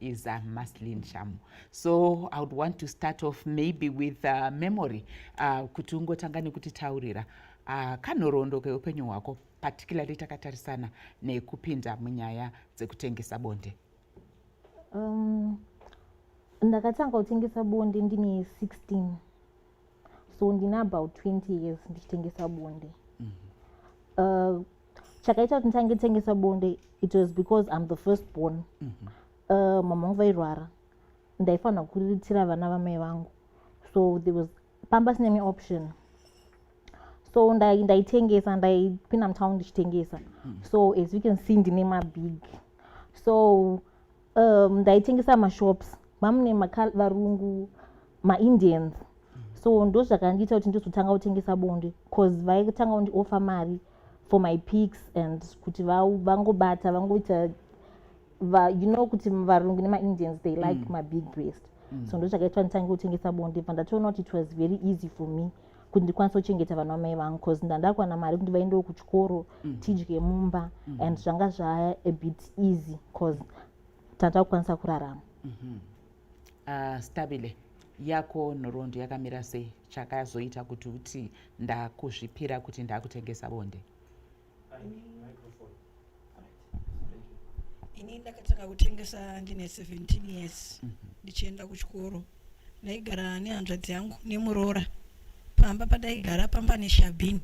is uh, maslin shamu so i would want to start off maybe with uh, memory uh, kuti ungotanga nekutitaurira uh, kanhoroondo keupenyu hwako particularly takatarisana nekupinda munyaya dzekutengesa bonde um, ndakatanga kutengesa bonde ndine 16 so ndine about 20 years ndichitengesa bonde mm -hmm. uh, chakaita kuti nditange tengesa bonde it was because im the first born mm -hmm. uh, mama vangu vairwara ndaifanira kuriritira vana vamai vangu so there was pamba sine option so ndaitengesa ndaipinda mutown ndichitengesa mm. so as you can see ndine mabig so um, ndaitengesa mashops mamune varungu maindians so ndo zvakandiita kuti ndizotanga kutengesa bonde bcause vaitanga kundiofa mari for my pics and kuti vangobata vangoita va, you know kuti varungu nemaindians they like mm. mabig breast mm. so ndo zvakaitwa nditange kutengesa bonde bva ndatoona kuti it was very easy for me kuti ndikwanise kuchengeta vana vamai vangu bcause ndandakwana mari kuti vaendewo kuchikoro mm. tidye mumba mm. and zvanga zvaya a bit easy bcause tata kukwanisa kurarama mm-hmm. ah, stabile yako nhoroondo yakamira sei chakazoita kuti uti ndakuzvipira kuti ndakutengesa bonde ini ndakatanga kutengesa ndine 17 years mhm. ndichienda kuchikoro ndaigara nehanzvadzi yangu nemuroora pamba padaigara pamba neshabhini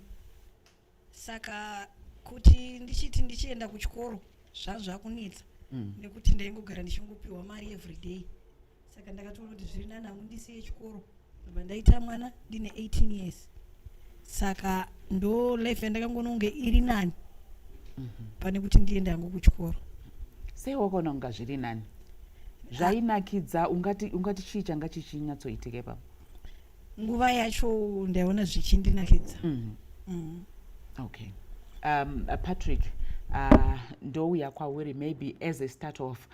saka kuti ndichiti ndichienda kuchikoro zvazvakunetsa mm. nekuti ndaingogara ndichingopiwa mari everyday saka ndakatoona kuti zviri nani hangu ndisiye chikoro ndobva ndaita mwana ndine 18 years saka ndo life yandakangoona kunge iri nani mhm. pane kuti ndiende hangu kuchikoro sei wakaona kunga zviri nani zvainakidza ungati ungati chii changa chichinyatsoitike pa nguva yacho ndaiona zvichindinakidza mm. mm. okay um, uh, patrick uh, ndouya kwauri maybe as a start off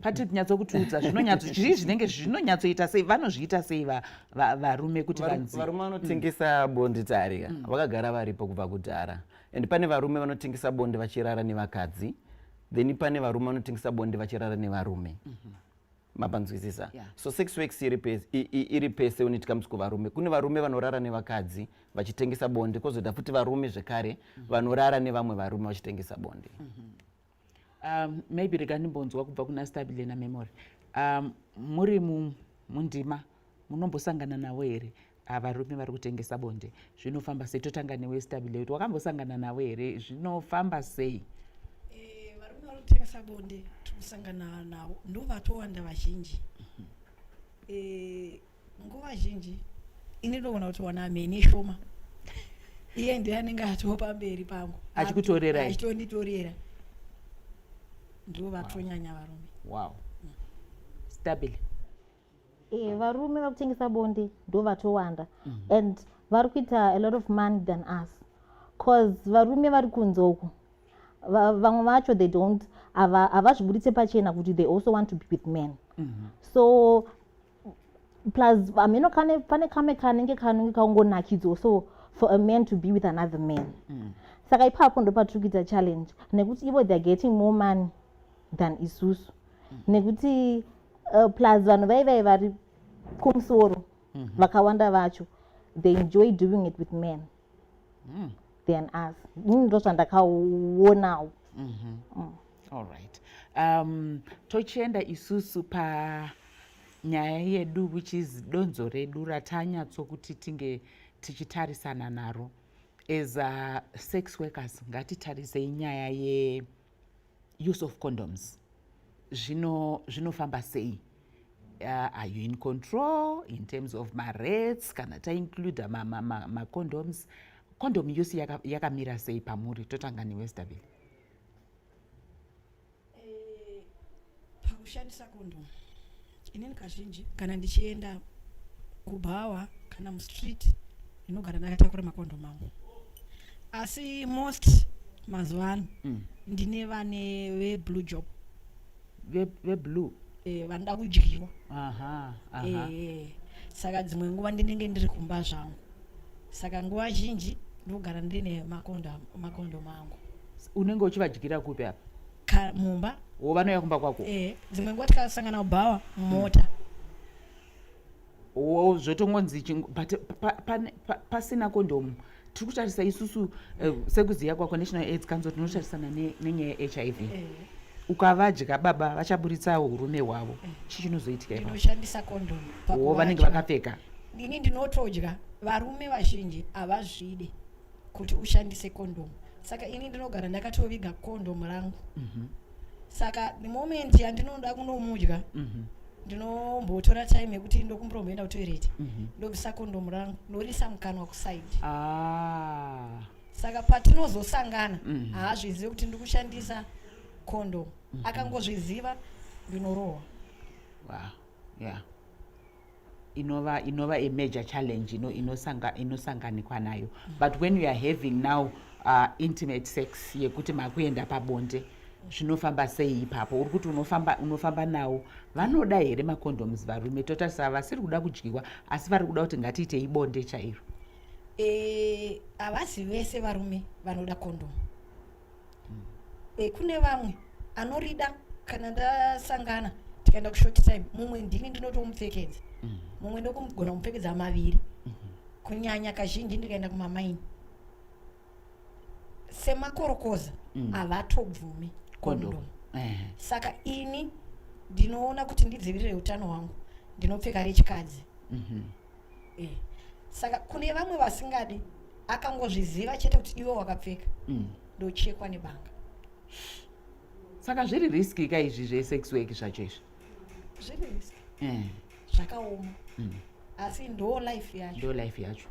pati nyatso kutiudza zvinonyatsochii zvinenge zvinonyatsoita sei vanozviita sei varume kuti vanzivarume vanotengesa mm. bondi tarika mm. vakagara varipo kubva kudhara and pane varume vanotengesa bondi vachirara nevakadzi then pane varume vanotengesa bondi vachirara nevarume mm-hmm. mapanzwisisa so sex works iri pese when it comes kuvarume kune varume vanorara nevakadzi vachitengesa bondi kozoita futi varume zvekare mm-hmm. vanorara nevamwe varume vachitengesa bondi mm-hmm. um, maybe rega ndimbonzwa kubva kuna stabile namemory um, muri mundima munombosangana navo here ah, varume vari kutengesa bonde zvinofamba sei totanga newe stabile kuti wakambosangana navo here zvinofamba sei eh, varume vari kutengesa bonde tikusangana navo ndovatowanda vazhinji mhm. eh, nguva zhinji ini ndoona kuti wana mheni shoma iye ndiye anenge atoo pamberi pangu achikutorera achitonditorera ndivo vatonyanya varume wow mm. stabile e, eh, varume vakutengesa bonde ndo vatowanda mm -hmm. and vari kuita a lot of money than us bcause varume vari kunze uku vamwe vacho they don't havazvibuditse pachena kuti they also want to be with men mm -hmm. so plus hameno kane pane kame kanenge kanenge kaungonakidzwa so for a man to be with another man mm. saka ipapo ndopatiri kuita challenge nekuti ivo theyare getting more money than isusu mm. nekuti uh, plus vanhu vaivai vari kumusoro mm -hmm. vakawanda vacho they enjoy doing it with men mm. than us ini ndozvandakaonawo mm -hmm. mm. all right um, tochienda isusu pa nyaya yedu which is donzo redu ratanyatsokuti tinge tichitarisana naro as a sex workers ngatitarisei nyaya ye use of condoms zvinofamba zvino sei uh, are you in control in terms of marates kana taincluda macondoms ma, ma, ma condom yose yakamira yaka sei pamuri totanga newestabile eh, pakushandisa condom inini kazhinji kana ndichienda kubhawa kana mustreet ndinogara ndakatakura makondom angu asi most mazuva ano mm. ndine vane veblue job veblue eh, vanoda kudyiwa eh, saka dzimwe nguva ndinenge ndiri kumba zvangu saka nguva zhinji ndogara ndine makondo mangu unenge uchivadyira kupi apa mumba wo vanouya kumba kwako eh, dzimwe nguva tikasangana kubhawa mumota mm. oh, zvotongonzi chingu but pasina kondomu tiri kutarisa isusu eh, sekuziva kwako national aids council tinotarisana nenyaya yehiv eh. ukavadya baba vachaburitsawo urume hwavo eh. chii chinozoitika inoshandisa kondomu vanenge vakapfeka ndini ndinotodya varume vazhinji havazvide kuti ushandise kondom saka ini ndinogara ndakatoviga kondom rangu mm -hmm. saka the moment yandinoda kunomudya mm -hmm ndinombotora time yekuti ndokumboromboenda kutoireti mhm. ndobvisa kondomu rangu ndorisa mukanwa kusaidi ah. saka patinozosangana mhm. haazvizive kuti ndiri kushandisa kondomu mhm. akangozviziva ndinorohwa wow. yeah. inova inova a major challenge ino inosanga inosanganikwa nayo but when you are having now uh, intimate sex yekuti makuenda pabonde zvinofamba sei ipapo uri kuti unofamba unofamba nawo vanoda here macondoms varume totarisa vasiri kuda kudyiwa asi vari kuda kuti ngatiite ibonde chairo eh, havasi e, vese varume vanoda condom e, kune vamwe anorida kana ndasangana tikaenda kushort time mumwe ndini ndinotomupfekedza mm. mumwe ndokumugona kumupfekedza maviri mm-hmm. kunyanya kazhinji ndikaenda kumamaini semakorokoza mm. havatobvumi kondom saka ini ndinoona kuti ndidzivirire utano hwangu ndinopfeka rechikadzi mm-hmm. eh, saka kune vamwe vasingadi akangozviziva chete kuti iwe wakapfeka mm. ndochekwa nebanga saka zviri riski ka izvi zvesex work zvacho izvi zviri riski eh. zvakaoma mm. asi ndo life yacho ndo life yacho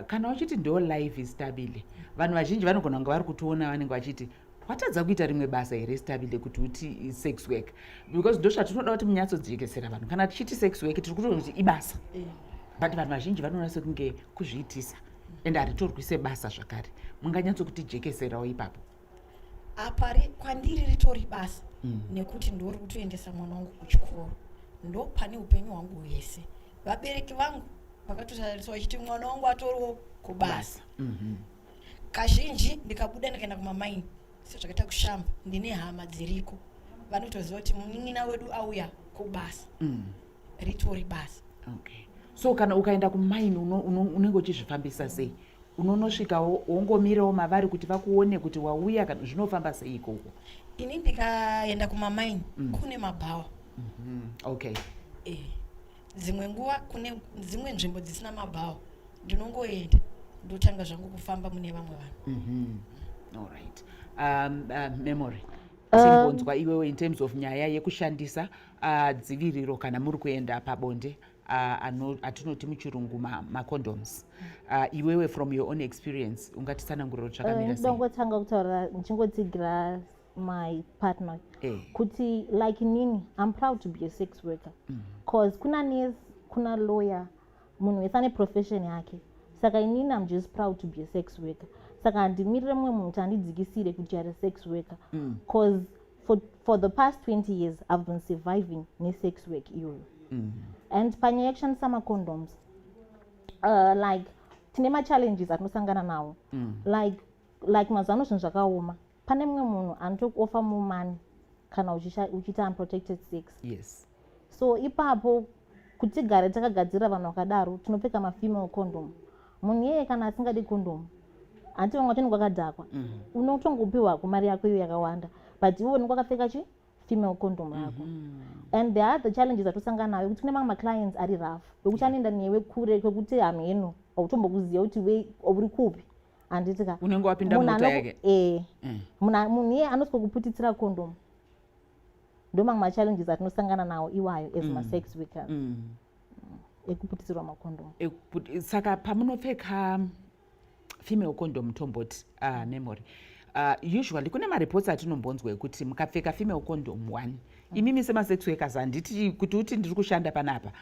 kana uchiti ndo life istabile vanhu vazhinji vanogona kunge vari kutiona vanenge vachiti watadza kuita rimwe basa here stabile kuti uti sex work because ndosvatinoda kuti munyatsojekesera vanhu kana tichiti sex work tiri kutoona kuti ibasa eh. but vanhu vazhinji vanoona sekunge kuzviitisa and haritorwi sebasa zvakare munganyatsokutijekeserawo ipapo apa kwandiri ritori basa mm. nekuti ndori kutoendesa mwana wangu kuchikoro ndopane upenyu hwangu hwese vabereki vangu vakatotariswa vachiti mwana wangu atoriwo kubasa mm-hmm. kazhinji ndikabuda ndikaenda kumamaini sezvakaita kushamba ndine hama dziriko vanotoziva kuti munin'ina wedu auya kubasa mm. ritori basa okay. so kana ukaenda kumaini unenge uchizvifambisa sei unonosvika wongomirawo mavari kuti vakuone kuti wauya kana zvinofamba sei ikoko ini ndikaenda kumamaini mm. kune mabhawa mm -hmm. okay e. dzimwe nguva kune dzimwe nzvimbo dzisina mabhawa ndinongoenda ndotanga zvangu kufamba mune vamwe vanhu mm-hmm. allright um, uh, memory timbonzwa um, iwewe in terms of nyaya yekushandisa uh, dziviriro kana muri kuenda pabonde uh, atinoti muchirungu macondoms ma uh, iwewe from your own experience ungatitsananguriro tsvakamira uh, sei ndongotanga kutaura ndichingotsigira my partner eh. kuti like nini i'm proud to be a sex worker mm. cause kuna nes kuna lawyer munhu wese ane profession yake saka inini i'm just proud to be a sex worker saka handimirire mumwe munhu kuti andidzikisire kuti are sex worker mm. cause for, for the past 20 years i've been surviving nesex work iyoyo mm. and panyaya yekushandisa macondoms uh, like tine machallenges atinosangana nawo mm. like like mazuva ano zvinhu zvakaoma pane mumwe munhu anotokuofa muman kana uchiita unprotected sex yes so ipapo kuti tigare takagadzirira vanhu vakadaro tinopfeka mafemale condom munhu iyeye kana asingadi condom hanti vamwe vatoni kwakadhakwa mhm. unotongopiwa kumari yako iyo yakawanda but iwe unenge wakapfeka chi female condom yako mhm. and the other challenges atosangana nayo kuti kune mamwe maclients ari rough wekuti anoenda newe kure kwekuti hamheno hautombokuziva kuti we uri kupi handiti ka unenge wapinda mota yake eh mm. munhu iye anotya kuputitsira kondomu ndomamwe machallenges atinosangana nawo iwayo as mm. masex workers mm. ekuputisirwa makondomu saka pamunopfeka female condom tomboti uh, ah, memory uh, usually kune mareports atinombonzwa ekuti mukapfeka female condom one mm. imimi semasex workers handiti kuti uti ndiri kushanda panapa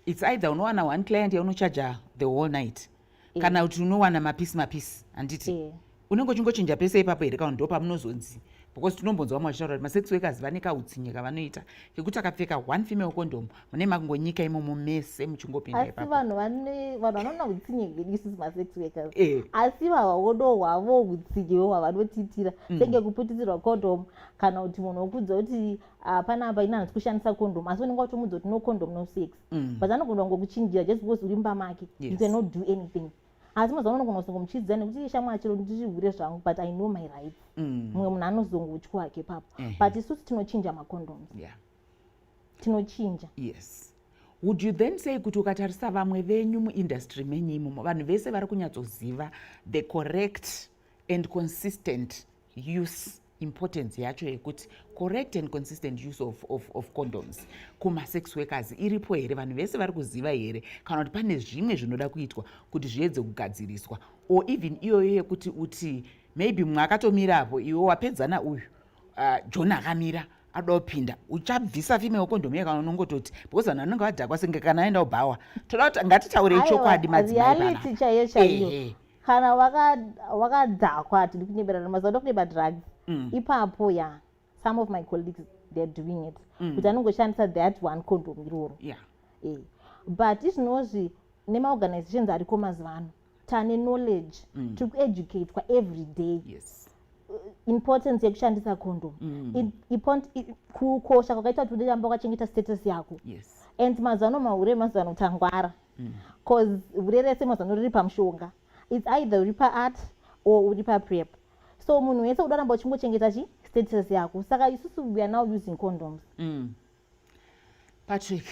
its either unowana one client yaunochaja the whole night mm. kana kuti unowana mapisi mapisi handiti yeah. unenge uchingochinja pese ipapo here kaunhu ndo pamunozonzi because tinombonzwa vamwe vachitaura kuti masex workers vane kautsinye kavanoita kekuti akapfeka one female condom mune makungonyika imomo mese muchingopinda ipapo vanhu vanhu vanoona utsinye gedisis masex workers eh. asi vavaodo hwavo utsinye hwavanotiitira mm. senge kuputisirwa condom kana kuti munhu wokudza kuti ah, panapa ini hanzi kushandisa condom asi unenge watomudza kuti no condom no sex mm. but anogona kungokuchinjira just because uri mumba make yes. you cannot do anything asi mazuva anogona kuzongomuchidzira nekuti shamwa chero ndirihure zvangu but i know my rights mm. mumwe mm. munhu anozongotya wake ipapo mm -hmm. but isusu tinochinja macondoms yeah. tinochinja yes would you then say kuti ukatarisa vamwe venyu muindustry menyu imomo vanhu vese vari kunyatsoziva the correct and consistent use importance yacho yekuti correct and consistent use of, of, of condoms kumasex workers iripo here vanhu vese vari kuziva here kana kuti pane zvimwe zvinoda kuitwa kuti zviedze kugadziriswa or even iyoyo yekuti uti maybe mumwe akatomira apo iwe wapedzana uyu uh, john akamira ada kupinda uchabvisa fime wekondomu yekana unongototi because vanhu vanenge vadhakwa senge kana aenda ubhawa toda kuti ngatitaurei chokwadi madzimaireality chaiyo chaiyo kana wakadhakwa waka tiri kunyeberana mazuva ndo kuneba drugs mm. ipapo ya yeah. some of my colleagues theyare doing it mm. kuti anongoshandisa that one condom iroro yeah. e. but izvinozvi nemaorganizations ariko mazuva ano tane knowledge mm. tiri kueducatwa every day yes uh, importance yekushandisa condom mm. kukosha kwakaita kuti udeamba kwachengeta status yako yes. and mazuva ano mahure mazuva ano tangwara bcause mm. vure rese mazano riri pamushonga its either uri paart or uri paprep so munhu wese uda ramba uchingochengeta chi status yako saka isusu we are now using condoms mm. patrick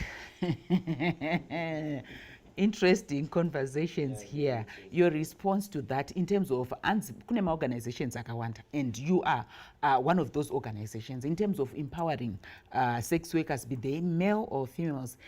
interesting conversations here your response to that in terms of anzi kune maorganizations akawanda and you are uh, one of those organizations in terms of empowering uh, sex workers be they male or females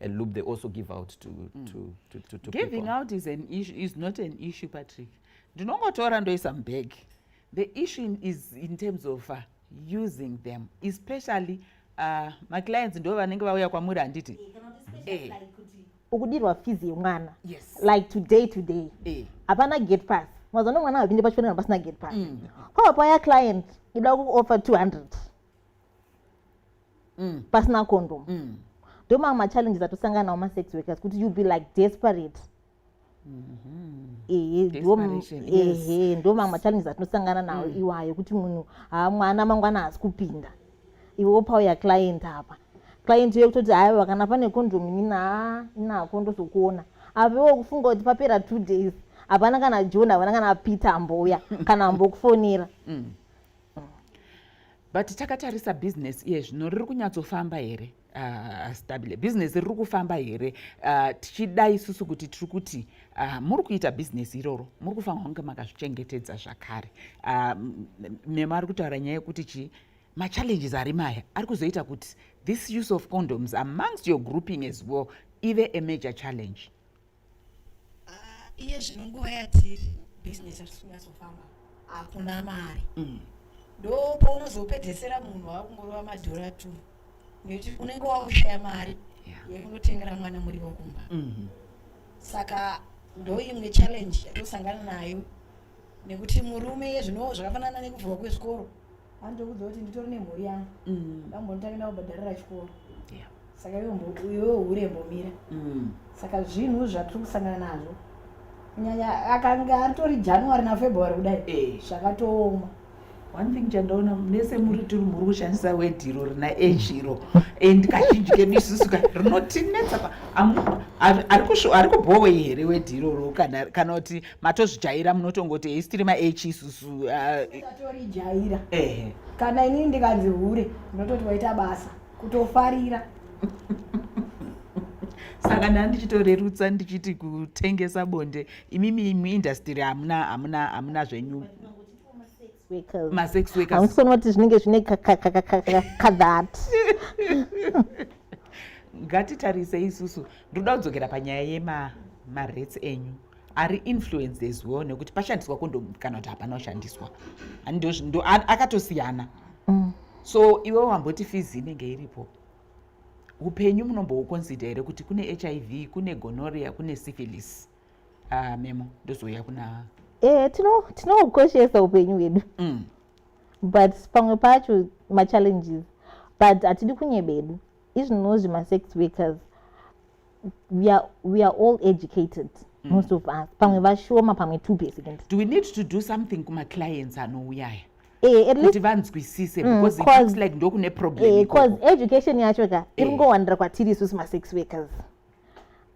a loop they also give out to, mm. to, to, to, to giving people. out is, an issue, is not an issue patrick ndinongotora ndoisa mubag the issue is in terms of uh, using them especially uh, maclients ndo vanenge vauya kwamuri handiti eh. eh. ukudirwa fees yemwana yes. like today today eh. hapana eh. gate pass mazuva nomwana havapinde pachipendera pasina gate pass mm. kwava paya client ida kuoffer 200 mm. pasina condom mm. ndomamwe machallenges atosangana nawo masex workers kuti you be like desperate ehe ndomamwe machallenges atinosangana nawo mm. iwayo kuti munhu haa mwana mangwana haasi kupinda iwe wopauya client apa client iye kutoti haya vakana pane condom inina inako ndozokuona avewo kufunga kuti papera two days hapana kana john hapana kana peter ambouya kana ambokufonera mm. but takatarisa business iye zvino riri kunyatsofamba here uh, ah, stabile business riri kufamba here uh, tichida isusu kuti tiri kuti uh, muri kuita business iroro muri kufanira kunge makazvichengetedza zvakare uh, mema ari kutaura nyaya yekuti chii machallenges ari maya ari kuzoita kuti this use of condoms amongst your grouping as well ive a major challenge Ah, iye zvino nguva yatiri bhizinesi hatisi kunyatsofamba hakuna mari mm. ndo paunozopedzesera munhu wakungorova madhora two nekuti unenge wakushaya mari yekunotengera mwana muriwo kumba mm-hmm. saka ndo imwe challenge yatosangana nayo nekuti murume yezvino zvakafanana nekuvhurwa kwezvikoro andokudza kuti nditori nemhuri yangu mm. ndambonditange ndakubhadharira chikoro saka iwewo hure mbomira mm. saka zvinhu zvatiri kusangana nazvo kunyanya akanga atori january nafebruary kudai eh. zvakatooma one thing chandaona mese muri tiri muri kushandisa wedhiro rina ejiro and kazhinji kemisusu ka rinotinetsa ari kubhowe here wedhiro ro kana kuti matozvijaira munotongoti hesi tiri maage isusu usatorijayira uh, ehe kana inini ndikanzi hure ndinototi waita basa kutofarira saka ndaa ndichitorerutsa ndichiti kutengesa bonde imimi muindastiri hamuna hamuna hamuna zvenyu masex workers hamusoni kuti zvinenge zvine kadhat ngatitarise isusu ndoda kudzokera panyaya yema marets enyu ari influenced as well nekuti pashandiswa kondomu kana kuti hapana kushandiswa akatosiyana mm. so iwe wamboti fizi inenge iripo upenyu munombouconsider here kuti kune h i v kune gonoria kune syphilis uh, memo ndozouya kuna eh, tinoukoshesa tino upenyu hwedu mm. but pamwe pacho machallenges but hatidi kunyebedu izvinozvi masex workers we are, we are all educated mm. most of us pamwe vashoma pamwe two percent do we need to do something kumaclients anouyaya eh, kuti vanzwisise mm, because it looks like ndokune problem because eh, education yacho ka eh. iri ngowanira kwatiri isusu masex workers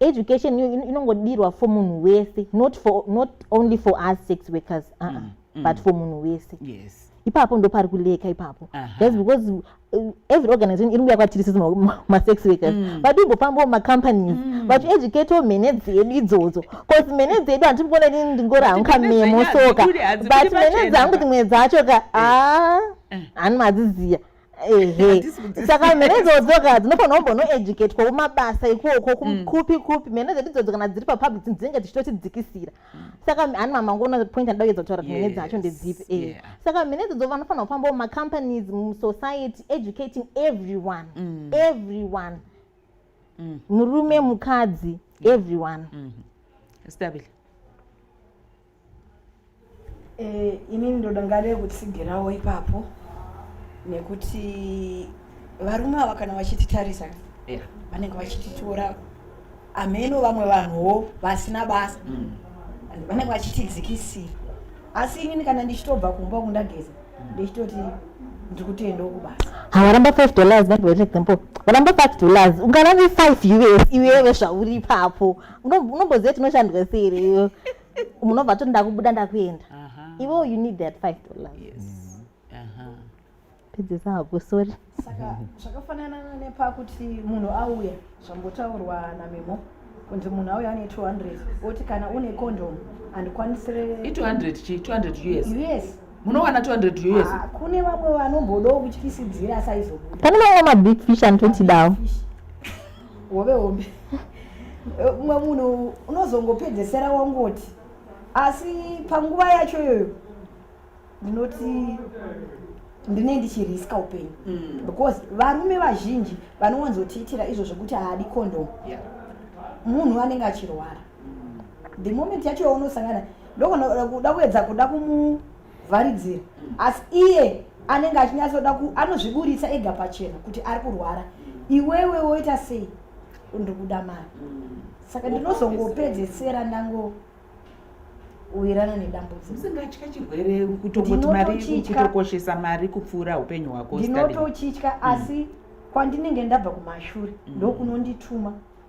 education inongodirwa for munhu wese not, for, not only for us sex workers uh -uh. Mm, mm. but for munhu wese yes ipapo ndo pari kuleka ipapo thats because uh, every organization iri kuuya kwatiri sisi masex workers mm. vatimbofambawo macompanies mm. vachieducatewo mhene dzedu idzodzo bcause mhene dzedu handiti kuona ini ndingori hangu kamemo soka but mhene dzangu dzimwe dzacho ka eh. a ah, eh. hani madziziya saka mhene idzodzo ka dzinofanira kumbonoeducatwa kumabasa ikoko mm. kupi kupi mhene dzedu idzodzo kana dziri papublic dzinenge dzichitotidzikisira mm. saka ani mama wangu una point andida kuedza kutaura mhene dzacho ndedzipi e eh. saka mhene idzodzo vanofanira kufamba mumacompanies musociety educating everyone mm. everyone murume mukadzi everyone mm-hmm. stabile Eh, inini ndoda ngade kutsigirawo ipapo nekuti varume ava kana vachititarisa yeah. vanenge vachititora ameno vamwe vanhuwo vasina basa mm. vanenge vachitidzikisira asi inini kana ndichitobva kumba kundageza mm. ndichitoti ndiri kutoendawo kubasa havaramba five dollars that was example varamba five dollars ungarave five us iwewe zvauri ipapo unomboziva tinoshandwa siri iyo munobva toti ndakubuda ndakuenda ivo you need that five dollars yes. uh-huh. pedzesa hako sori saka zvakafanana nepakuti munhu auya zvambotaurwa namemo kunzi munhu auya ane 200 oti kana une condom andikwanisire i200 chi 200 us yes munowana 200 us ah, kune vamwe vanombodawo kutyisidzira saizobuda pane vamwe mabig fish anototidawo hove hombe umwe munhu unozongopedzesera wangoti asi panguva yacho iyoyo ndinoti ndine ndichiriska upenyu mm. because varume vazhinji vanowanzotiitira izvo zvekuti haadi condom munhu anenge achirwara mm. the moment yacho yaunosangana ndokuda kuedza kuda kumu vharidzira asi iye anenge achinyatsoda ku anozviburitsa ega pachena kuti ari kurwara iwewe woita sei ndikuda mari saka ndinozongopedzesera ndango uwirana nedambudziko usingatya chirwere kutongoti mari Ndinotochitya. kutokoshesa mari kupfuura upenyu hwako Stanley. ndinotochitya asi kwandinenge ndabva kumashure ndokunondituma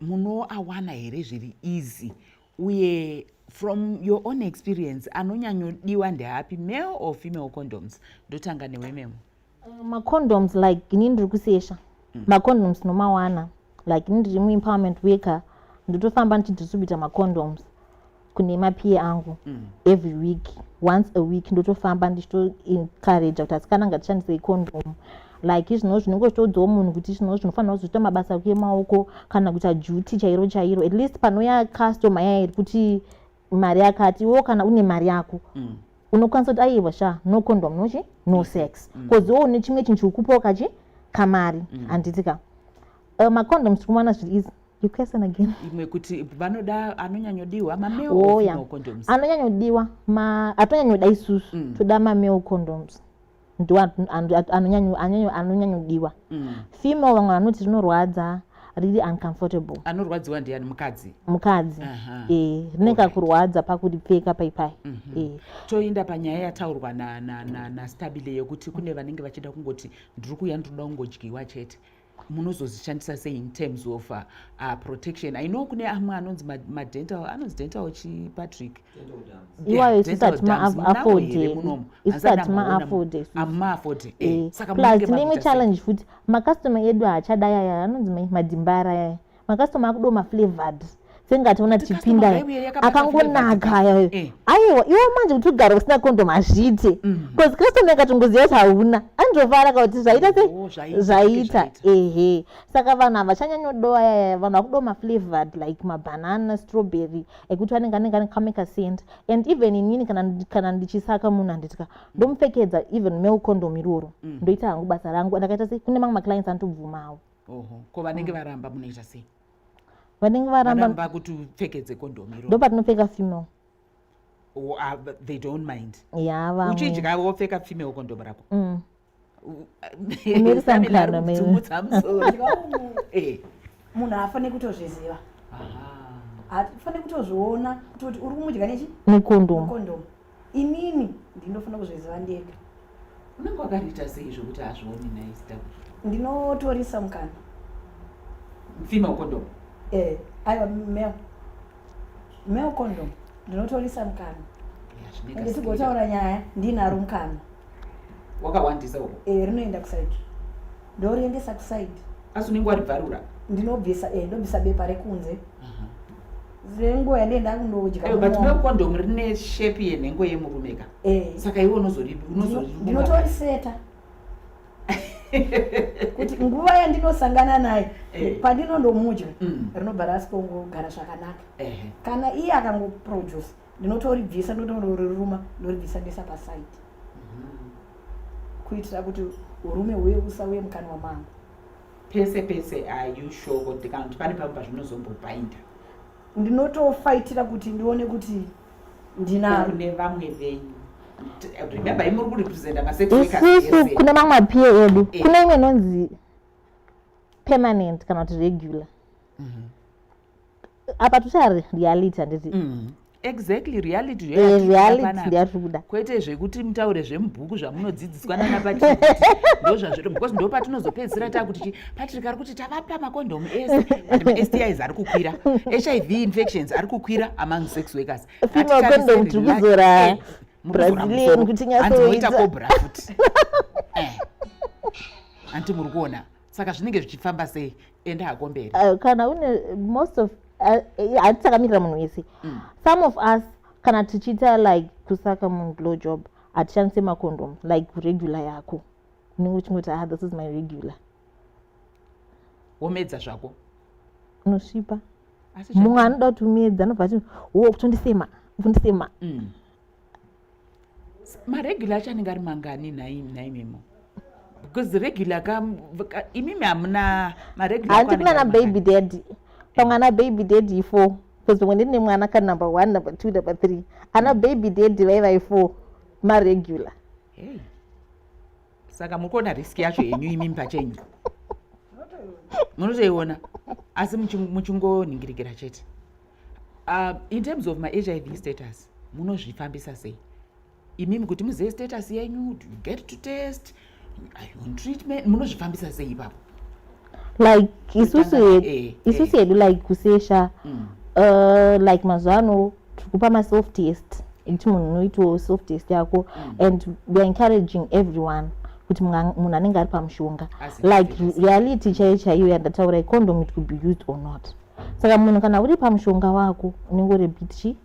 munoawana here zviri easy uye from your own experience anonyanyodiwa ndeapi male or female condoms ndotanga newe memo uh, macondoms like ini ndiri kusesha mm. macondoms nomawana like ini ndiri muempowerment worker ndotofamba ndichidistribute macondoms kune mapiye angu mm. every week once a week ndotofamba ndichitoencourage kuti asikana ngatishandise icondom like izvino zvinenge zvitoudzawo munhu kuti izvino zvinofanira kuzoita mabasa ako emaoko kana kuita duty chairo chairo at least panouya customer yaya iri kuti mari yakati iwewo kana une mari yako mm. unokwanisa kuti aiwa sha no condom nochi no mm. sex bcause mm. iwo une chimwe chinhu chikukupawo kachi kamari mm. handiti ka uh, macondoms tiri kuwana zviri izi you question again imwe kuti vanoda anonyanyodiwa mamale or female condoms anonyanyodiwa ma atonyanyoda isusu mm. toda mamale condoms ndo anonyanyodiwa mm. female vamwe vanoti zvinorwadza riri uncomfortable anorwadziwa ndiani mukadzi mukadzi uh -huh. e, rine kakurwadza pakuripfeka paipai mm -hmm. e. toinda panyaya yataurwa nastabile na, na, na yekuti kune vanenge vachida kungoti ndiri kuya ndinoda kungodyiwa chete munozozvishandisa sei in terms of uh, uh, protection i know kune amwe anonzi madental ma anonzi dental chi patrick plus neimwe challenge futi macustomer edu haachadai aya anonzi madimbara aya makastoma akudoma flavored senge ationa tichipinda akangonaka ayayo eh. aiwa iwo manje kuti ugare usina kondom hazviite bcause mhm. kristone akatongoziva kuti hauna anzovara ka kuti zvaita se oh, zvaita ehe saka vanhu havachanyanyodowa yaya vanhu vakudoma flavored like mabanana strawberry ekuti vanenge anenge ane kameka sent and even inini kana ndichisaka munhu anditika ndomupfekedza even male condom iroro mm. ndoita hangu basa rangu ndakaita se kune mamwe maclients anotobvumawo oho ko vanenge mm. varamba munoita sei vanenge varamba kuti upfekedze kondomu iro ndo patinopfeka female oh, ah, they don't mind yava uchidya wopfeka female kondomu rako mm. unoirisamukanamudzumutsa musoro eh. munhu haafane kutozviziva haafane kutozviona kutoti uri kumudya nechi nekondomu inini ndinofanira kuzviziva ndega unenge wakariita sei zvokuti hazvioni naizita ndinotorisa mukana mfima ukondomu eh aiwa mel mel condom ndinotorisa mukana ende tigotaura nyaya ndinaro mukana wakawandisa uko eh rinoenda kusaidi ndoriendesa kusaidi asi unenge waribvarura ndinobvisa eh ndobvisa bepa rekunze uh -huh. zengo yandee ndakundodya eh, but milk condom rine shape yenhengo yemurume ka eh. saka iwe unozoriunotoriseta kuti nguva yandinosangana naye eh. pandinondomudya mm. rinobva rasikongoogara zvakanaka kana iye akangoproduce ndinotoribvisa ndinotoriruma ndoribvisa ndesa pasaidi mm-hmm. kuitira kuti urume huye usauye mukanwa mangu pese pese are you sure kuti kana kuti pane pamwe pazvinozombopainda ndinotofaitira kuti ndione kuti ndinakune vamwe venyu remember imuri kurepresenta masekisisu kune mamwe apiye edu eh. kune imwe inonzi permanent kana kuti regular mm -hmm. apa tushaya reality handiti mm. exactly reality ndoyatikuda eh, kwete zvekuti mutaure zvemubhuku zvamunodzidziswa nana patrick ndozvazviri because ndo patinozopedzisira takuti chi patrick ari kuti tavapa makondomu ese and mastis ari kukwira hiv infections ari kukwira among sex workers anti muri kuona saka zvinenge zvichifamba sei ende hako mberi uh, kana une most of eh, eh, hatitakamirira uh, munhu wese mm. some of us kana tichiita like kusaka munhu blow job hatishandise macondom like regular yako unenge uchingoti ah this is my regular womedza zvako unosvipa mumwe anoda kuti umedza anobva ati wo kutondisema kutondisema mm. maregular acho anenge ari mangani nhaimimo because regular ka imimi hamuna maregularhandi kuna na baby daddy pamwe ana baby daddy four because pamwe ndine mwana ka number one number two number three ana mm. baby daddy vaivai four maregular hey. saka muri kuona risk yacho yenyu imimi pachenyu munotoiona asi muchingonhingirikira chete uh, in terms of mahiv status munozvifambisa sei imimi kuti muzive status yenyu do you get to test are you on treatment munozvifambisa sei ipapo like isusu hedu eh, isusu eh. hedu like kusesha mm. uh, like mazuva ano tiri kupa masoft test ekuti munhu unoitawo soft test yako mm. and weare encouraging everyone kuti munhu anenge ari pamushonga like reality chaiyo chaiyo yandataura icondom it could be used or not saka munhu kana uri pamushonga wako unenge uri bit chi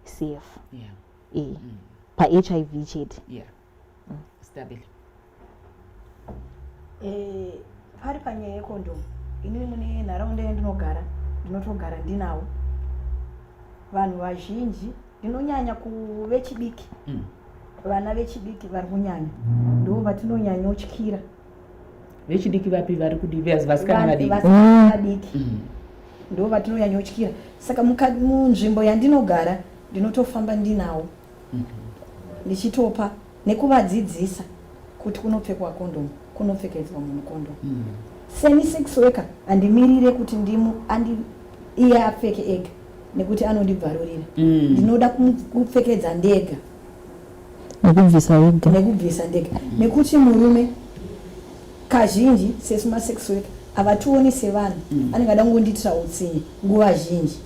cf yeah. e eh, mm. pahiv chete yeah. mm. stabile eh, pari panyaya yekondomu inini mune nharaunda yandinogara ndinotogara ndinawo vanhu vazhinji ndinonyanya kuvechidiki mm. vana vechidiki vari kunyanya ndo vatinonyanyotyira vechidiki vapi vari kudii vasikana vadiki vasikana vadiki mm. ndo vatinonyanyotyira saka munzvimbo yandinogara ndinotofamba ndinawo mm-hmm. ndichitopa nekuvadzidzisa kuti kunopfekwa kondomu kunopfekedzwa munhu kondomu mm. seni sex worker handimirire kuti ndimu andi iye apfeke ega nekuti anondibvarurira mm. ndinoda kupfekedza ndega nekubvisa wega nekubvisa ndega nekuti murume kazhinji sesu masex worker havationi sevanhu mm. anenge ada kungondiitira utsinye nguva zhinji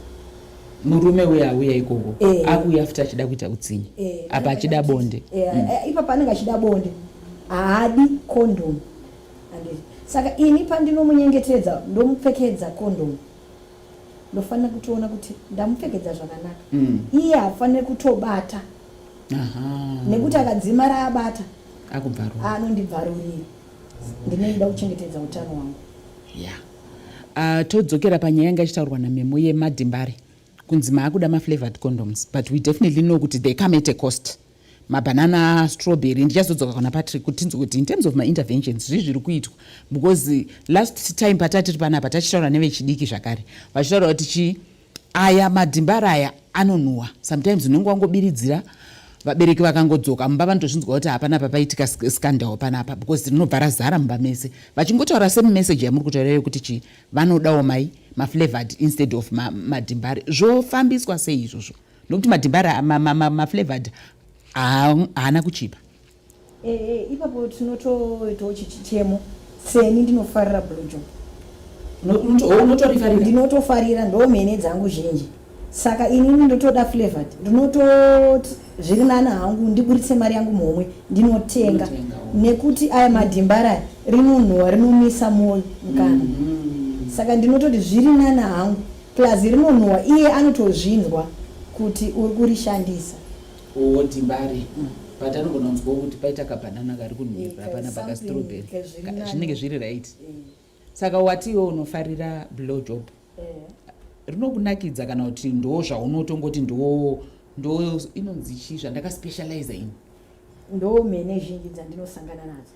murume uye auya ikoko eh. akuuya futi achida kuita utsinye eh. apa achida bonde eh, mm. ipa paanenge achida bonde haadi kondomu saka ini pandinomunyengetedza ndomupfekedza kondomu ndofanira kutoona kuti ndamupfekedza zvakanaka mm. iye hafanire kutobata nekuti akadzima raabata anondibvarurira ndinenge da kuchengetedza utano hwangu ya ah, todzokera panyaya yanga ichitaurwa namemo yemadimbare kunzi maakuda maflavored condoms but we definitely know kuti they come at a cost mabanana strawberry ndichazodzoka kana patrick kuti tinzwe kuti in terms of mainterventions zvii zviri kuitwa because last time patatiri panapa tachitaura nevechidiki zvakare vachitaura kuti chii aya madhimbara aya anonhuwa sometimes unenge wangobiridzira vabereki vakangodzoka mumba vanotozvinzwa kuti hapana papaitika scandal panapa because rinobva razara mumba mese vachingotaura same message yamuri kutaura iyo kuti chii vanodawo mai maflavored instead of madhimbare zvofambiswa sei izvozvo ma nokuti madhibhara maflavored haana kuchipa eh, eh, ipapo tinotoitawo chichichemo seni ndinofarira blojo oh, ndinotofarira ndo mhene dzangu zhinji saka inini ndotoda flavored ndinototi zviri nani hangu ndiburitse mari yangu mhomwe ndinotenga oh. nekuti aya madhimbara rinonhuwa rinomisa moyo mukana mm-hmm. saka ndinototi zviri nani hangu Plus rinonhuwa iye anotozvinzwa kuti uri kurishandisa. Or timbare. But anogona kunzwawo kuti paita kabanana kari kunhuwirwa Eh, hapana paka something, strawberry. eh, zviri Ka- nani. Zvinenge zviri right. Saka wati iwe unofarira blow job. Rinokunakidza kana kuti ndo zvaunotongoti ndo ndo inonzi chii zvandaka specializer ini. Ndo mhene zhinji dzaNdinosangana nadzo.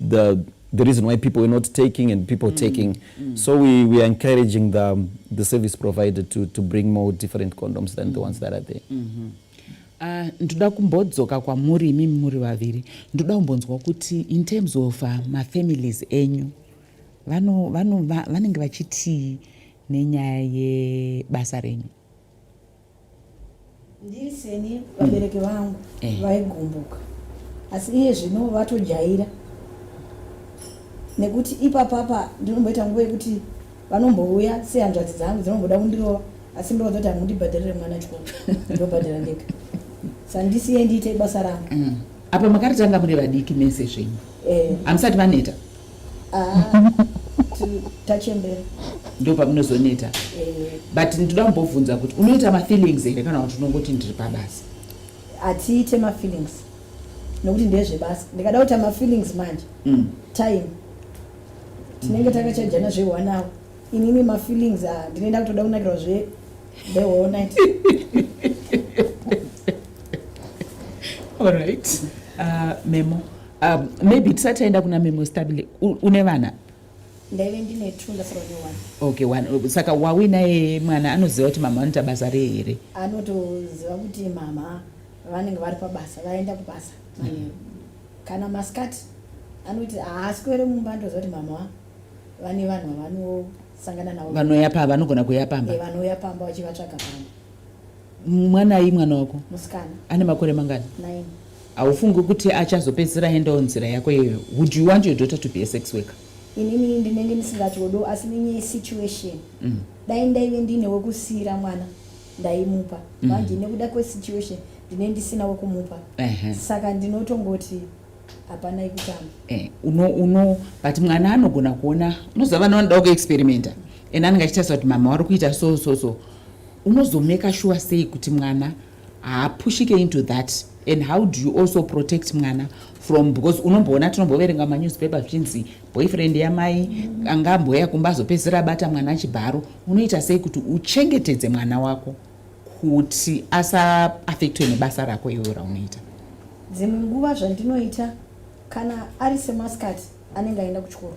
the the reason why people were not taking and people mm. taking. Mm. So we, we are encouraging the, the service provider to, to bring more different condoms than mm. the ones that are there. Mm -hmm. Uh, ndoda kumbodzoka kwamuri imi muri vaviri ndoda kumbonzwa kuti in terms of uh, mafamilies enyu vanenge vachitii nenyaya yebasa renyu Ndiri seni vabereki vangu Eh. vaigumbuka asi iye zvino vatojaira nekuti ipapapa ndinomboita nguva yekuti vanombouya sehanzvadzi dzangu dzinomboda kundirova asi ndovadzoti hamundibhadharire mwana chikoro ndobhadhara ndega sandisiye ndiite basa rangu Mm. apa makaritanga muri vadiki mese zvenyu Eh, hamusati vaneta tachembera ndo pamunozoneta eh. but ndinoda kumbobvunza kuti unoita mafeelings here kana kuti unongoti ndiri pabasa hatiite mafeelings nokuti ndezvebasa ndikada kuita mafeelings manje mm. time tinenge takachajana zveone hour inini mafeelings ah, ndinoenda kutoda kunakirwa zve the whole night all right uh, memo Um, maybe tisati taenda kuna memo stabile une vana ndaive ndine two ndasara ne one okay one oh, saka wawinaye mwana anoziva kuti mama vanoita basa rei here anotoziva kuti mama vanenge vari pabasa vaenda kubasa mm. kana masikati anoti haasi kuere mumba ndoziva kuti mama vane vanhu vavanosangana navo vanouya pamba vanogona kuuya pamba vanouya pamba vachivatsvaga pamba mwana ayi mwana wako musikana ane makore mangani nine Haufungi kuti achazopedzisira aendawo nzira yako iyoyo? Would you want your daughter to be a sex worker? Inini ndinenge ndisingatodo asi nenye situation. Mm. Dai ndaive ndine wekusiira mwana ndaimupa. Mm. Manje mm. nekuda kwe situation ndine ndisina wekumupa. Uh -huh. Saka ndinotongoti hapana ikutamba. Eh, uno uno but mwana anogona kuona unoziva vana vanoda ku experimenta. And anenge achitarisa kuti mama wari kuita so so so. Unozomeka sure sei kuti mwana haapushike into that and how do you also protect mwana from because unomboona tinomboverenga manewspaper zvichinzi boyfriend yamai anga amboya kumba azopedzisira abata mwana achibharo unoita sei kuti uchengetedze mwana wako kuti asaafektwe nebasa rako iwewo raunoita dzimwe nguva zvandinoita kana ari semaskati anenge aenda kuchikoro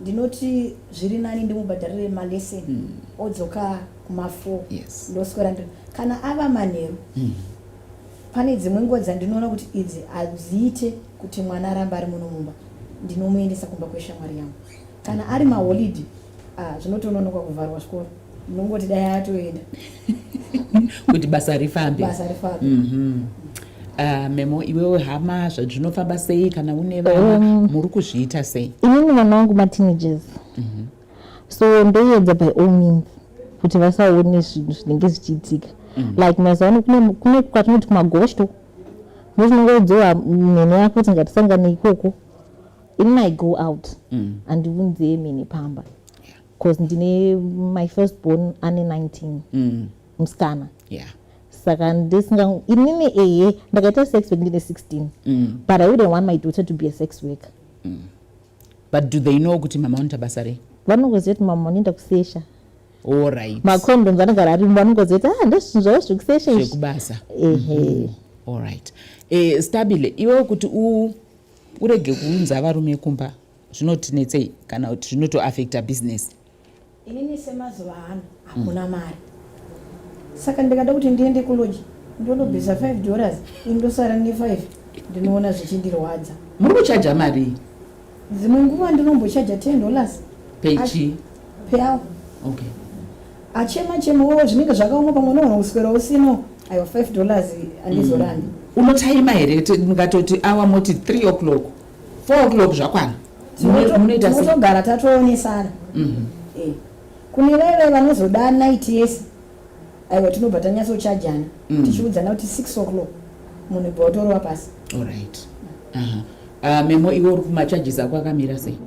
ndinoti zviri nani ndimubhadharire malesson mm. odzoka kumafo yes. ndoswera nd kana ava manheru mm. pane dzimwe nguva dzandinoona kuti idzi hadziite kuti mwana aramba ari muno mumba ndinomuendesa kumba kweshamwari yangu kana ari maholidi ah, zvinotononoka kuvharwa zvikoro ndongoti dai atoenda kuti basa rifambe basa rifambe mm -hmm. Uh, memo iwewo hama zvazvinofamba sei kana une vana um, muri kuzviita sei inini vana vangu mateenagers mm -hmm. so ndoyedza by all means kuti vasaone zvinhu zvinenge zvichiitika mm -hmm. like mazuva ano kune kwatinoti kumagosho motinongoudzowa mhene yako kuti ngatisangane ikoko inini i go out mm -hmm. andiunzeye mhene pamba bcause ndine my first born ane 19 mm. musikana yeah saka ndisinga inini ehe ndakaita sex work ndine 16 mm. but i wouldn't want my daughter to be a sex worker mm. but do they know kuti mama vanoita basa rei vanongoziva kuti mama vanoenda kusesha allright macondoms anogara ari vanongoziva kuti ah ndozvinhu zvavo zvekusesha zvekubasa ehe mm -hmm. allright e, eh, stabile iwewo kuti u urege kuunza varume kumba zvinotinetsei kana kuti zvinotoafecta business inini semazuva ano hakuna mm. mari saka ndikada kuti ndiende kuloji ndonobvisa 5 dollars indosara ne5 ndinoona zvichindirwadza muri kuchaja marii dzimwe nguva ndinombochaja 10 dollars pechi peawa okay achema chema wo zvinenge zvakaoma pamwe unoona kuswera usino ayo 5 dollars andizorandi mm. unotaima here mukatoti awa moti 3 o'clock 4 o'clock zvakwana tinotogara tatoonesana mhm. eh, kune veve vanozoda night yese aiwa tinobva tanyatsochajana mm. tichiudzana kuti 6 o'clock munhu ibva watorova pasi allright ah, memo iwe uri kumacharges ako akamira sei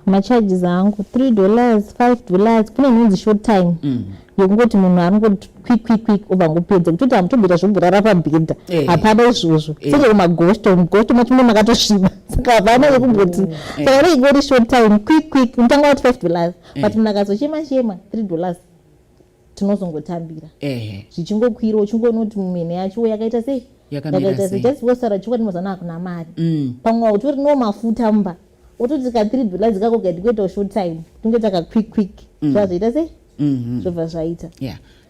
macharges angu 3 dollars 5 dollars kune inonzi short time mm. yekungoti munhu anongoti quick quick quick obva ngopedza kutoti hamutobvira zvoburara pabhedha eh. hapana hey. izvozvo hey. Eh. senge kumagosto mugosto macho mune makatosviba saka hapana yekumboti oh. eh. saka hey. ingoti short time quick quick mutanga wati 5 dollars hey. but munhu akazochema chema 3 dollars tinozongotambira zvichingokwira uchingonoti mumene yacho yakaita sei yakaita sei just wosara chokwadi mazana akuna mari mm. pamwe wautori no mafuta mba wototi ka three dola dzikako gaiti kuitawo short time tinge taka quick quick mm. zvazvaita sei mm-hmm. zvobva zvaita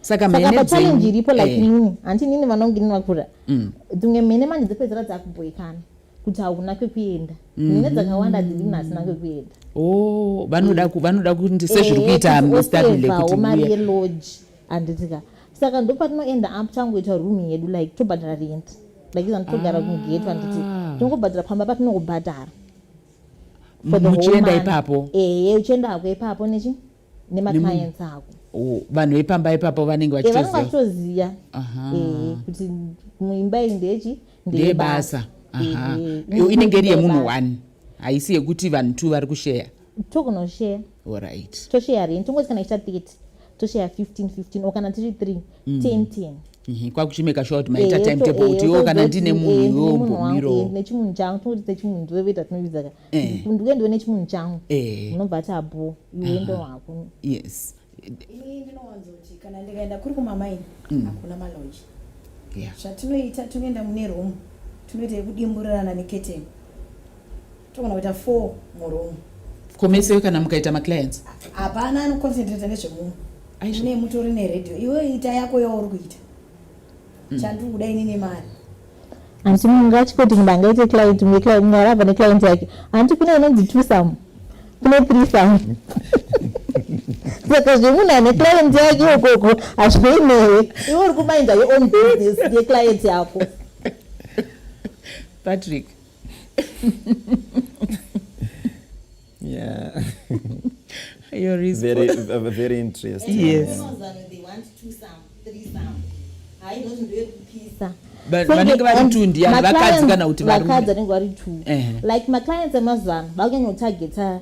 saka pachallenji iripo like eh. inini hanti inini vanonge inini vakura mm. dzimwe mhene manje dzopedzera dzakuboikana kuti hauna kwekuenda mhm. nyaya dzakawanda dziri munhu asina kwekuenda oh, vanoda vanoda kuti sezviri eh, kuita mustability mari yelodge handitika saka ndopatinoenda up tangoita room yedu like tobhadhara rent like izani togara ah. kugate vanditi tinongobhadhara pamba patinongobhadhara muchienda ipapo ehe uchienda hako ipapo nechi nemaclients ako oh, vanhu vepamba ipapo vanenge eh, vachitoziva vanenge vachitoziva eh, kuti muimba iyi ndechi ndeyebasa inenge iri yemunhu one haisi yekuti vanhu two vari kusheya tokunosheya orit tosheya rent tongozi kana ichita 30 tosheya 15 15 o kana tiri 3 10 10 Mhm, kwakuchimeka sure kuti maita eh, timetable eh, kuti iwo kana ndine munhu iwo mbomironechimunhu changu tinokuti sechimunhu ndiwe veta tinovidzaka eh. ndiuendiwe nechimunhu changu eh. unobva ati abo iuendo wako yes ini ndinowanzoti kana ndikaenda kuri kumamaini mm. hakuna maloji zvatinoita tinoenda mune romu tinoita yekudimburirana neketeni togona kuita four muromu komeseyo kana mukaita maclients hapana anoconcentrata nezvemunhu aine mutori neredio iwe ita yako yauri kuita mm. chandiri kuda ini nemari hanti munhu ngachikoti munhu angaite client mumwe client mumwe arava neclient yake hanti kune inonzi two some kune three some saka zvemunhu ane client yake ikoko hazvei newe iwe uri kumainda your own business yeclient yako patrick Yeah. Your response. Very, uh, very interesting. Yes. Yeah. They want two some, three some. I don't do it pizza. vanenge vari two ndiyani vakadzi kana kuti vakadzi vanenge vari two like maclients emazuva ano vakunyanya kutargeta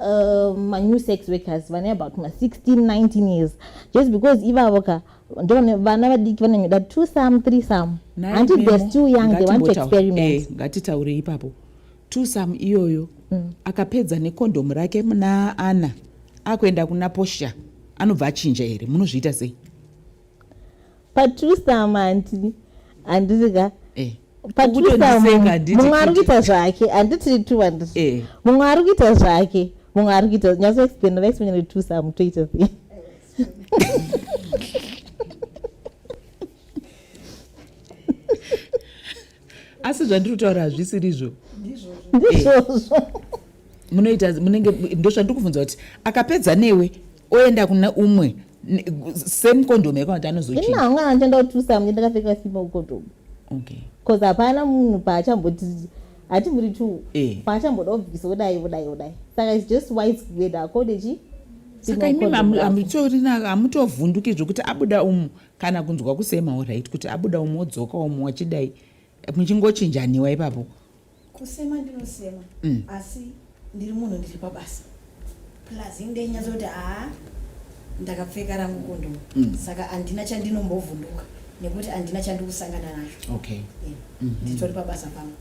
uh, manew sex workers vane about ma16 19 years just because ivavo ka vana vadiki vananyoda two some three some hanti they're still young they want to experiment eh, ngatitaure ipapo twosam iyoyo mm. akapedza nekondhomu rake muna ana akuenda kuna posha anobva achinja here munozviita sei patwosam handi handirika eh. mumwe ari kuita zvake handiti two andit eh. mumwe ari kuita zvake mumwe ari kuita nyatso explain va explain kuti twosam toita sei asi zvandiri kutaura hazvisirizvo ndizvozvo munoita munenge ndozvandiri kubvunza kuti akapedza newe oenda kuna umwe same condom yako kuti anozochina hangu andienda kutusa mnge ndakapfeka simba ucondom okay bcause hapana munhu paachamboti hati muri two eh. paachamboda obvisa odai odai odai saka its just wise kuenda akodechi saka imimi hamutorina hamutovhunduki zvekuti abuda umu kana kunzwa kusema orit kuti abuda umwe odzoka umwe wachidai muchingochinjaniwa ipapo kusema ndinosema mm. asi ndiri munhu ndiri pabasa plus inge nyatsoti haa ndakapfeka rangu kondo mm. saka handina chandinombovhunduka nekuti handina chandikusangana nacho okay. yeah. mm -hmm. nditori pabasa pangu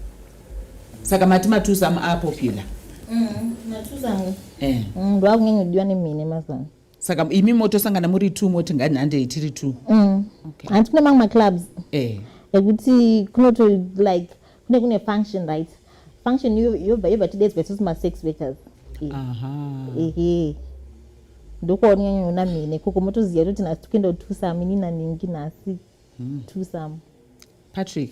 saka mati matusa muapopular mm, matusa angu eh. mm, ndwakunyanyodiwa nemhine mazana saka imi motosangana muri two moti ngainhandei tiri two mm. hanti kune mamwe maclubs eh. ekuti kunoto like kune kune function right function yobva yobva tidedzwa isusu masex workers ehe ndokuonyanyaona mine koko motoziva toti nhasi tokuenda kutusa mini naningi nhasi hmm. tusam patrick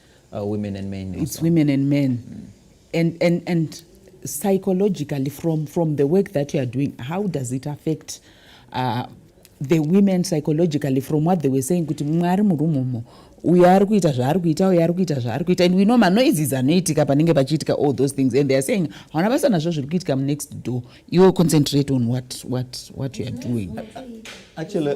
uh, women and men it's also. women and men mm. and, and, and psychologically from, from the work that you are doing how does it affect uh, the women psychologically from what they were saying kuti mumwe ari murumu umo uyo ari kuita zvaari kuita uyo ari kuita zvaari kuita and we know manoizizi anoitika panenge pachiitika all those things and theyare saying hauna basa nazvo zviri kuitika munext door iwo concentrate on what, what, what you are doing Actually,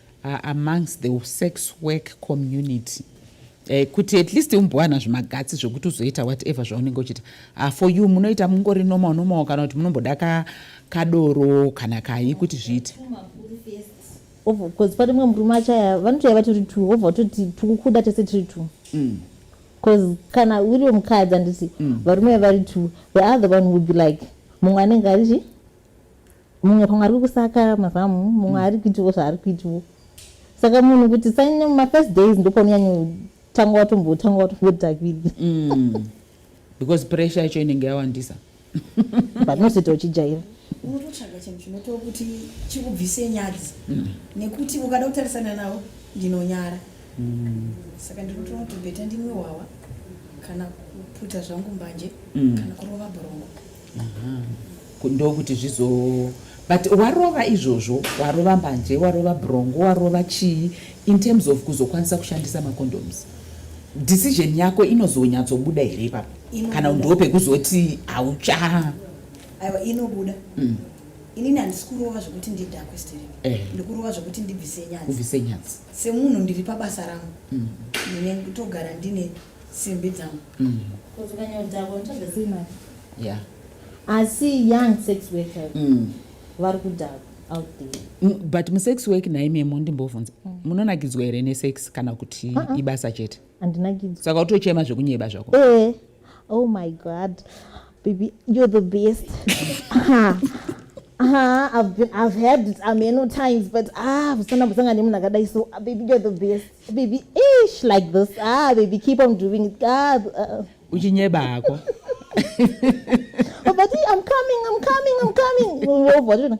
are amongst the sex work community eh, kuti at least umbowana zvimagatsi zvekuti uzoita whatever zvaunenge uchiita uh, for you munoita mungori normal normal kana kuti munomboda ka, kadoro kana kayi kuti zviite bcause pane mwe murume achaya vanotoya vatori two wobva utoti tikukuda tese tiri two mm. bcause mm. kana uriwe mukadzi anditi mm. varume vari two the other one would be like mumwe anenge arichi mumwe pamwe ari kusaka mazamu mumwe mm. ari kuitiwo zvaari kuitiwo saka munhu kuti sanyanya mumafirst days ndopaunonyanya tanga watombotanga watombotakidi mm. because pressure yacho inenge yawandisa but nosita uchijaira unototsvaga chinhu chinotiwo kuti chikubvise nyadzi mm. nekuti ukada kutarisana navo ndinonyara mm. saka ndinotoona kuti bheta ndimwe hwawa kana kuputa zvangu mbanje kana kurova borongo ndokuti zvizo but warova izvozvo warova mbanje warova brongo warova chii in terms of kuzokwanisa kushandisa macondoms decision yako inozonyatsobuda here ipapo kana ndo pekuzoti haucha aiwa inobuda mm. inini handisi kurova zvekuti ndidhakwe steri eh. ndikurova zvekuti ndibvise nyadzi semunhu ndiri pabasa rangu mm. ndine togara ndine simbi dzangu mm. kuti ukanyodhakwa unotsvagasei mari yeah. asi young sex worker mm. vari kudhakwa mm, but musex work naimemo ndimbovhunza mm. munonakidzwa here nesex kana kuti uh -uh. ibasa chete andinakidzwa saka utochema zvekunyeba zvako e oh my god Baby, you're the best. Aha. Aha, I've been, I've had it ameno times, but ah, kusana kusanga ni muna kadai so, ah, baby, you're the best. Baby, ish, like this. Ah, baby, keep on doing it. Ah, uh. Uchinyeba hako. oh, but I'm coming, I'm coming, I'm coming.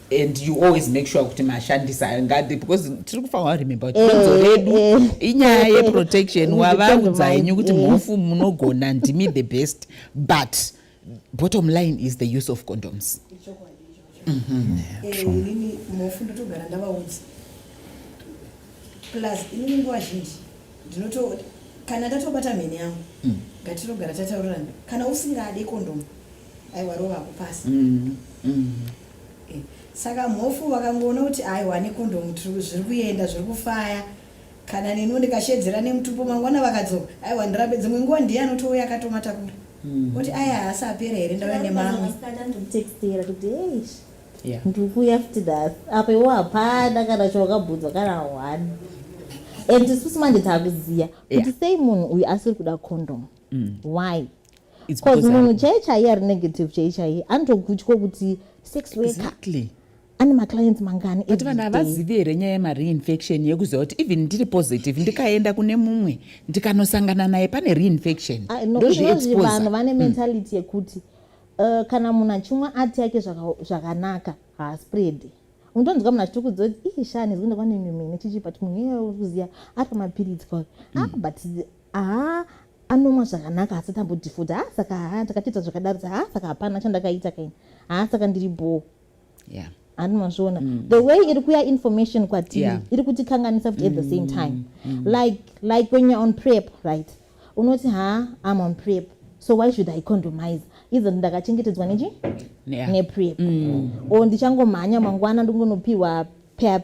and you always make sure kuti mashandisa ayo ngadi because tiri kufanira remember kuti donzo eh, redu eh. inyaya yeprotection wavaudza henyu kuti mhofu munogona ndimi the best but bottom line is the use of condoms mhm. eh, inini mhofu ndotogara ndavaudza plus inini nguva zhinji ndinoto kana ndatobata mheni yangu mm. ngatirogara tataurirana kana usingade kondomu aiwa rova kupasa mm, mm. Saka Mhofu vakangoona kuti aiwa nekondomu zviri kuenda zviri kufaya kana neniwo ndikashedzera nemutupo mangwana vakadzoka aiwa ndirambe dzimwe nguva ndiye anotouya akatomatakura hmm. oti aya haasi apera here ndauya nemamwe ndikuuya futi nhasi apa iwo hapana kana chawakabvunzwa kana one and isusu manje taakuziva kuti sei munhu uyu asiri kuda kondomu hmm. why bcause munhu chaiye chaiye ari negative chaiye chaiye anotogutyo kuti sex worker exactly ane maclients mangani but vanhu havazivi here nyaya yemareinfection yekuziva kuti even ndiri positive ndikaenda kune mumwe ndikanosangana naye pane reinfection ah, ndozviexposevanhu vane hmm. mentality yekuti eh, kana munhu achimwa ati yake zvakanaka haaspreadi unotonzwa munhu achiti kuziva kuti ii shani zvinda kwane mimene chichi but munhu iye uri kuziva ari pamapiritsi kwake hmm. ah but haa anomwa zvakanaka asi tambodhifudha ha saka ha ndakatoita zvakadaridza ha saka hapana chandakaita kaini ha saka ndiri bhoo yeah handi mazviona mm. the way iri kuya information kwatiri yeah. iri kutikanganisa futi mm. at the same mm. time mm. like like when you're on prep right unoti ha i'm on prep so why should i condomise izo ndakachengetedzwa nechi yeah. neprep mm. o ndichangomhanya mangwana ndingonopiwa pep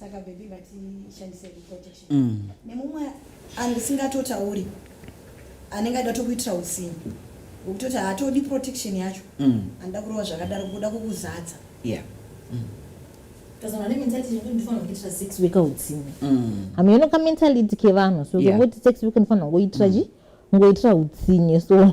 saka baby ngatishandise protection mm. nemumwe andisingatotauri anenge aida tokuitira usinhi wekutoti haatodi protection yacho mm. anoda kurova zvakadaro kuda kukuzadza yeah. mm. hameno mm. kamentality kevanhu so kungoti yeah. sex week ndifana ngoitira mm. chi ngoitira utsinye so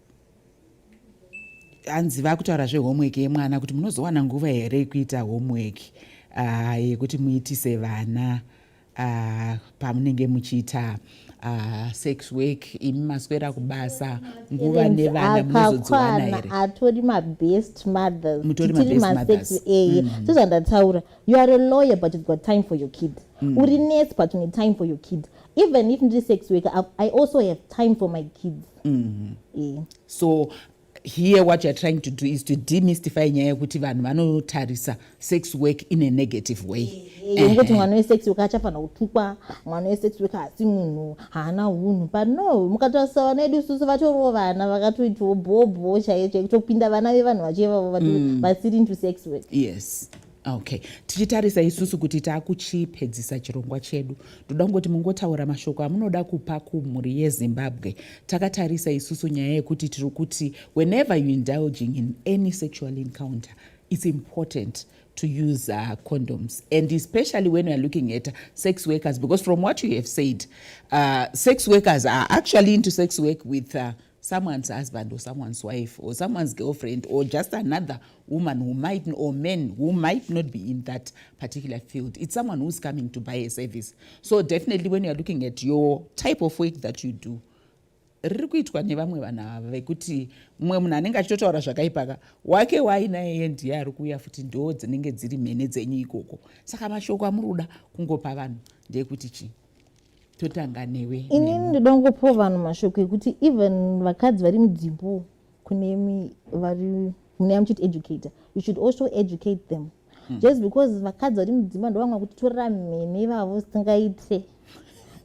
hanzi vakutaura zvehomework yemwana kuti munozowana nguva here yekuita homework ah, yekuti uh, muitise vana uh, pamunenge muchiita uh, sex work imi maswera kubasa nguva nevana munozodziwana here atori mabest mothers mutori mabest mothers eye mm. so zvandataura you are a lawyer but you've got time for your kid mm. uri nurse but you need time for your kid even if ndiri sex worker i also have time for my kids mm. e. so here what youare trying to do is to demystify nyaya yekuti vanhu vanotarisa sex work in a negative way yekuti mwana wesex work achafanira kutukwa mwana wesex work haasi munhu haana unhu but no mukatarisa vana vedu isusu vatoriwo vana vakatoitiwo bhobho chaiye chaikutopinda vana vevanhu vacho ivavo mm. vasiri into sex work yes okay tichitarisa isusu kuti taakuchipedzisa chirongwa chedu ndoda kungoti mungotaura mashoko amunoda kupa kumhuri yezimbabwe takatarisa isusu nyaya yekuti tiri kuti whenever you indulging in any sexual encounter it's important to use uh, condoms and especially when weare looking at sex workers because from what you have said uh, sex workers are actually into sex work with uh, someone's husband or someone's wife or someone's girlfriend or just another woman who might or men who might not be in that particular field it's someone who's coming to buy a service so definitely when youare looking at your type of work that you do riri kuitwa nevamwe vanhu ava vekuti mumwe munhu anenge achitotaura zvakaipaka wake wainaye ye ndiye ari kuuya futi ndoo dzinenge dziri mhene dzenyu ikoko saka mashoko amuri kuda kungopa vanhu ndeyekuti chii totanga newe ini ndoda kungopiwa vanhu mashoko ekuti even vakadzi vari mudzimbo kune vari mune amuchiti educator you should also educate them hmm. just because vakadzi vari mudzimba ndovamwa kuti torera mhene ivavo singaite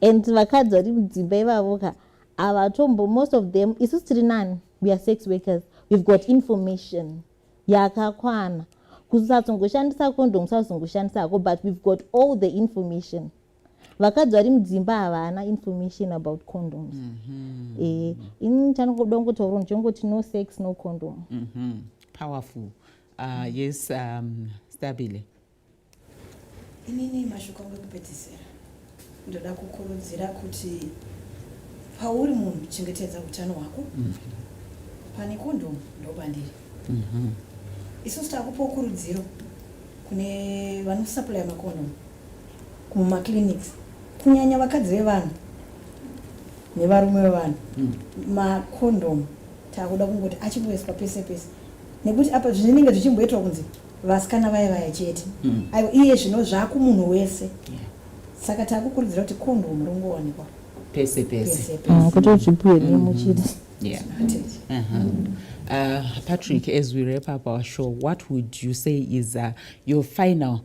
and vakadzi vari mudzimba ivavo ka havatombo most of them isu tiri nani we are sex workers we've got information yakakwana kusatsongoshandisa condom kusazongoshandisa hako but we've got all the information vakadzi vari mudzimba havana information about condoms mm -hmm. e, ini chanongoda kungotaura ndichongoti no sex no condom mm -hmm. powerful uh, mm. yes um, stabile inini mashoko angu ekupedzisira ndoda kukurudzira kuti pauri munhu chengetedza utano hwako mm -hmm. pane kondomu ndopandiri mm -hmm. isusu takupawo kurudziro kune vanosuplya makondomu Kuma clinics kunyanya vakadzi vevanhu nevarume vevanhu mm. macondom takuda kungoti achingoiswa pese pese nekuti apa zvinenge zvichimboitwa kunzi vasikana vaye vaya chete mm. aiwa iye zvino zvakumunhu wese yeah. saka takukurudzira kuti condom ringowanikwa pese pese ah, kuti zvipuwe nemuchida yeah. uh-huh. Uh, Patrick, as we wrap up our show, what would you say is uh, your final